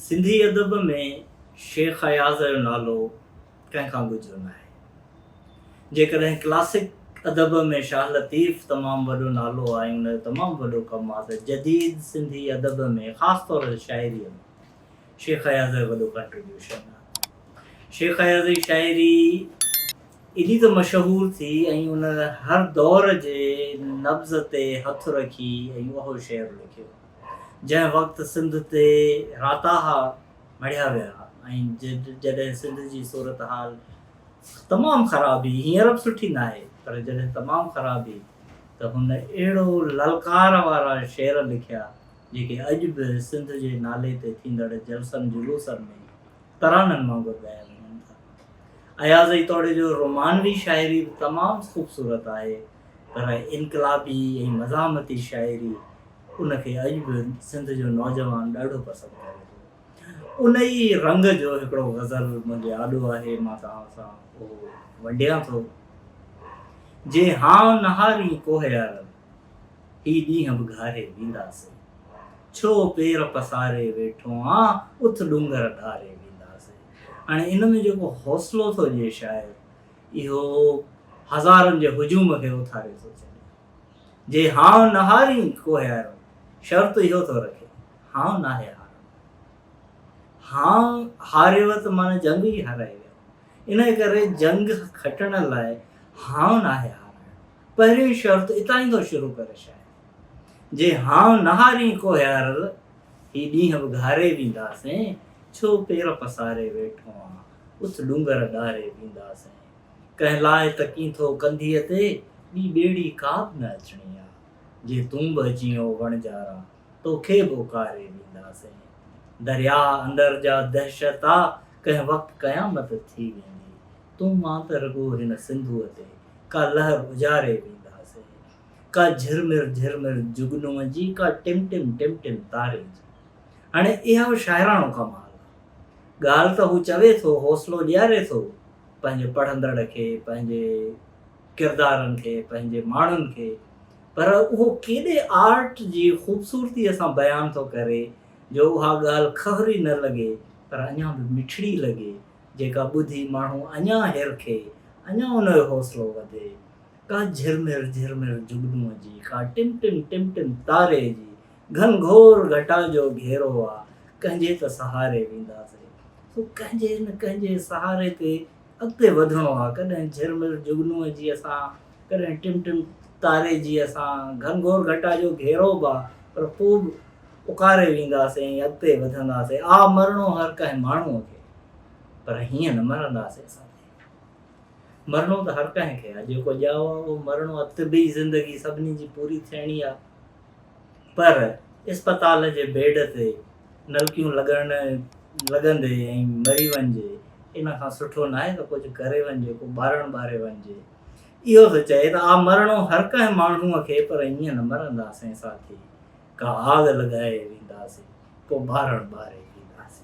سنڌي ادب ۾ شيخ اياز جو نالو ڪنهن کان ڳجهو ناهي. جيڪڏهن ڪلاسڪ ادب ۾ شاهه لطيف تمام وڏو نالو آهي ۽ ان جو تمام وڏو ڪم آهي ته جديد سنڌي ادب ۾ خاص طور تي شاعريء ۾ شيخ اياز جو وڏو ڪنٽريبيوشن آهي. شيخ اياز جي شاعري ايڏي ته مشهور ٿي ۽ ان هر دور جي نبض تي هٿ رکي ۽ اهو شعر لکيو. جنهن وقت سنڌ تي راتاها مڙهيا ويا ۽ جڏهن سنڌ جي صورتحال تمام خراب هئي هينئر به سٺي ناهي پر جڏهن تمام خراب هئي ته هن اهڙو للڪار وارا شعر لکيا جيڪي اڄ به سنڌ جي نالي تي ٿيندڙ جلسن جلوسن ۾ ترانن وانگر ڳايا وڃن ٿا اياز ايتوڙي جو رومانوي شاعري به تمام خوبصورت آهي پر انقلابي ۽ مزاحمتي شاعري ان کي اڄ به سنڌ جو نوجوان ڏاڍو پسند ڪري ٿو. ان ئي رنگ جو هڪڙو غزل منهنجي آڏو آهي، مان توهان سان اهو ونڊيان ٿو. جي هانء نهارين ڪوهيارن، هي ڏينهن به گهاري وينداسين. ڇو پير پساري ويٺو آن، اٿ ڏونگر ڏهاري وينداسين. هاڻي ان ۾ جيڪو حوصلو ٿو ڏئي شاعر، اهو هزارن جي هجوم کي اٿاري ٿو ڇڏي. جي هانء نهارين ڪوهي آرم، شرط اهو ٿو رکي، هانء ناهي هارم. هانء هاريوء ته معنيٰ جنگ ئي هارائي ويو. انهيء ڪري جنگ کٽڻ لاء هانء ناهي هارائڻ. پهريون شرط اتان ئي ٿو شروع ڪري شاعر. جي هانء نهارين ڪوهي آرل، هي ڏينهن به گهاري وينداسين، ڇو پير پساري ويٺو آن. اس ڏونگر ڏاري وينداسين. ڪنهن لاء ته ڪين ٿو ڪنڌيء تي ٻي ٻيڙي ڪا به نه اچڻي آ. جي تون به اچين او وڻجارا، تو کي به اڪاري وينداسين. درياء اندر جا دهشت آ، ڪنهن وقت قيامت ٿي ويندي. تون مان ته رڳو هن سنڌوء تي ڪا لهر اجاري وينداسين. ڪا جهرمر جهرمر جگنوء جي، ڪا ٽم ٽم ٽم ٽم تاري جي. هاڻي اهو شاعراڻو ڪمال آ. ڳالهه ته هو چوي ٿو، حوصلو ڏياري ٿو پنهنجي پڙهندڙ کي، پنهنجي ڪردارن کي، پنهنجي ماڻهن کي، پر اهو ڪيڏي آرٽ جي خوبصورتيء سان بيان ٿو ڪري جو اها ڳالهه کهري نه لڳي پر اڃا به مٺڙي لڳي، جيڪا ٻڌي ماڻهو اڃا هرکي، اڃا ان جو حوصلو وڌي. ڪا جهرمر جهرمر جگنوء جي، ڪا ٽم ٽم ٽم ٽم تاري جي، گهن گهور گهٽان جو گهيرو آ، ڪنهن جي ته سهاري وينداسين. سو ڪنهن جي نه ڪنهن جي سهاري تي اڳتي وڌڻو آ. ڪڏهن جهرمر جهڳنوء جي اسان، ڪڏهن ٽم ٽم تاري جي اسان، گهن گهور گهٽان جو گهيرو به آ، پر پوء به اڪاري وينداسين ۽ اڳتي وڌنداسين. آ مرڻو هر ڪنهن ماڻهوء کي، پر هيئن نه مرنداسين ساٿي. مرڻو ته هر ڪنهن کي آ، جيڪو ڄائو آ اهو مرڻو آ، طبعي زندگي سڀني جي پوري ٿيڻي آ. پر اسپتال جي بيڊ تي نلڪيون لڳڻ لڳندي ۽ مري وڃجي ان کان سٺو ناهي ته ڪجهه ڪري وڃجي ڪو ٻارڻ ٻاري وڃجي. اهو ٿو چئي ته آء مرڻو هر ڪنهن ماڻهوء کي پر ائين نه مرنداسين ساٿي ڪا آڳ لڳائي وينداسين ڪو ٻارڻ ٻاري وينداسين.